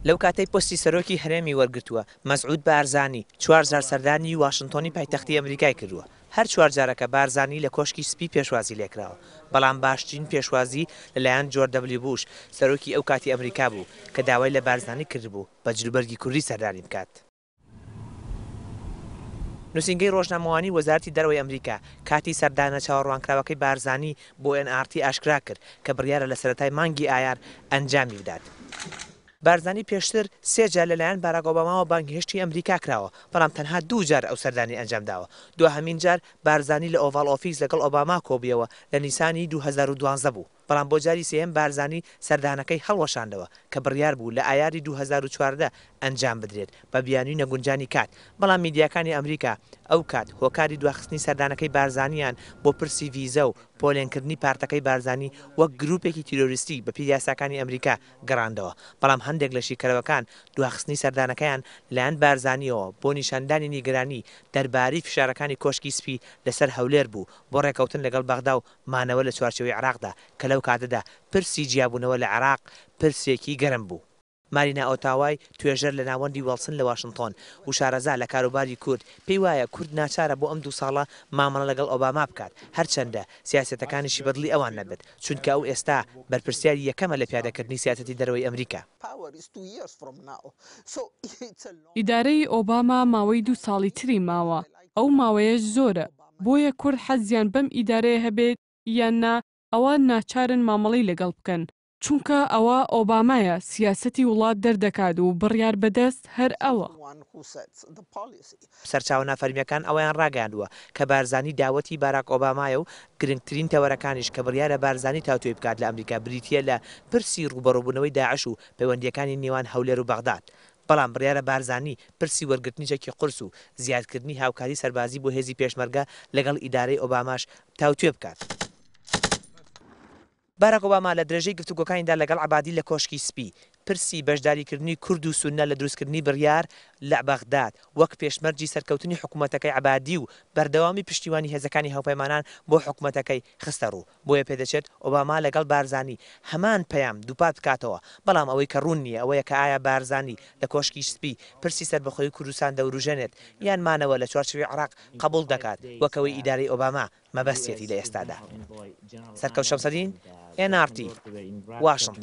لەو کاتەی پۆستی سەرۆکی هەرێمی وەرگرتووە، مەسعود بارزانی چوار جار سەردانی واشنتۆنی پایتەختی ئەمریکای کردووە، هەر چوار جارەکە بارزانی لە کۆشکی سپی پێشوازی لێکراوە، بەڵام باشترین پێشوازی لەلایەن جۆرج دەبلیو بوش، سەرۆکی ئەو کاتی ئەمریکا بوو، کە داوای لە بارزانی کردبوو بە جلوبەرگی کوردی سەردانی بکات. نوسینگەی ڕۆژنامەوانیی وەزارەتی دەرەوەی ئەمریکا کاتی سەردانە چاوەڕوانکراوەکەی بارزانی بۆ ئێن ئاڕ تی ئاشکرا کرد کە بڕیارە لە سەرەتای مانگی ئایار ئەنجامی بدات. بارزانی پێشتر سێ جار لەلایەن باراک ئۆباماوە بانگهێشتی ئەمریکا کراوە، بەڵام تەنها دوو جار ئەو سەردانی ئەنجام داوە. دواهەمین جار بارزانی لە ئۆڤاڵ ئۆفیس لەگەڵ ئۆباما کۆبوویەوە لە نیسانی دوو هەزار و دوازدە بوو. بەڵام بۆ جاری سێیەم بارزانی سەردانەکەی هەڵوەشاندەوە کە بڕیار بوو لە ئایاری دوو هەزار و چواردە ئەنجام بدرێت بە بیانوی نەگونجانی کات، بەڵام میدیاکانی ئەمریکا ئەو کات هۆکاری دواخستنی سەردانەکەی بارزانیان بۆ پرسی ڤیزە و پۆلێنکردنی پارتەکەی بارزانی وەک گروپێکی تیرۆریستی بەپێی یاساکانی ئەمریکا گەڕاندەوە، بەڵام هەندێک لە شیکەرەوەکان دواخستنی سەردانەکەیان لەلایەن بارزانیەوە بۆ نیشاندانی نیگەرانی دەربارەی فشارەکانی کۆشکی سپی لەسەر هەولێر بوو بۆ ڕێکەوتن لەگەڵ بەغدا و مانەوە لە چوارچێوەی عێراقدا، کە لەو کاتەدا پرسی جیابوونەوە لە عێراق پرسێکی گەرم بوو. مارینا ئۆتاوای، توێژەر لە ناوەندی وێڵسن لە واشنتۆن و شارەزا لە کاروباری کورد، پێی وایە کورد ناچارە بۆ ئەم دوو ساڵە مامەڵە لەگەڵ ئۆباما بکات، هەرچەندە سیاسەتەکانیشی بەدڵی ئەوان نەبێت، چونکە ئەو ئێستا بەرپرسیاری یەکەمە لە پیادەکردنی سیاسەتی دەرەوەی ئەمریکا. ئیدارەی ئۆباما ماوەی دوو ساڵی تری ماوە، ئەو ماوەیەش زۆرە. بۆیە کورد حەزیان بەم ئیدارەیە هەبێت یان نا ئەوا ناچارن مامەڵەی لەگەڵ بکەن، چونکە ئەوە ئۆبامایە سیاسەتی وڵات دەردەکات و بڕیار بەدەست هەر ئەوە. سەرچاوە نافەرمییەکان ئەوەیان ڕاگەیاندووە کە بارزانی داوەتی باراک ئۆبامایە و گرنگترین تەوەرەکانیش کە بڕیارە بارزانی تاوتوێی بکات لە ئەمریکا بریتییە لە پرسی ڕووبەڕووبوونەوەی داعش و پەیوەندییەکانی نێوان هەولێر و بەغداد بەڵام بڕیارە بارزانی پرسی وەرگرتنی چەکی قورس و زیادکردنی هاوکاری سەربازی بۆ هێزی پێشمەرگە لەگەڵ ئیدارەی ئۆباماش تاوتوێ بکات. باراک ئۆباما لە درێژەی گفتوگۆکانیدا لەگەڵ عەبادی لە کۆشکی سپی، پرسی بەشداریکردنی کورد و سوننە لە دروستکردنی بڕیار لە بەغداد، وەک پێشمەرجی سەرکەوتنی حکوومەتەکەی عەبادی و بەردەوامی پشتیوانی هێزەکانی هاوپەیمانان بۆ حکومەتەکەی، خستەڕوو. بۆیە پێدەچێت ئۆباما لەگەڵ بارزانی هەمان پەیام دووپات بکاتەوە، بەڵام ئەوەی کە ڕوون نییە ئەوەیە کە ئایا بارزانی لە کۆشکی سپی پرسی سەربەخۆیی کوردستان دەوروژێنێت یان مانەوە لە چوارچێوەی عێراق قەبووڵ دەکات وەک ئەوەی ئیدارەی ئۆباما مەبەستیەتی لە ئێستادا. سەرکەوت شەمسەدین، ئێن ئاڕ تی، واشنتن.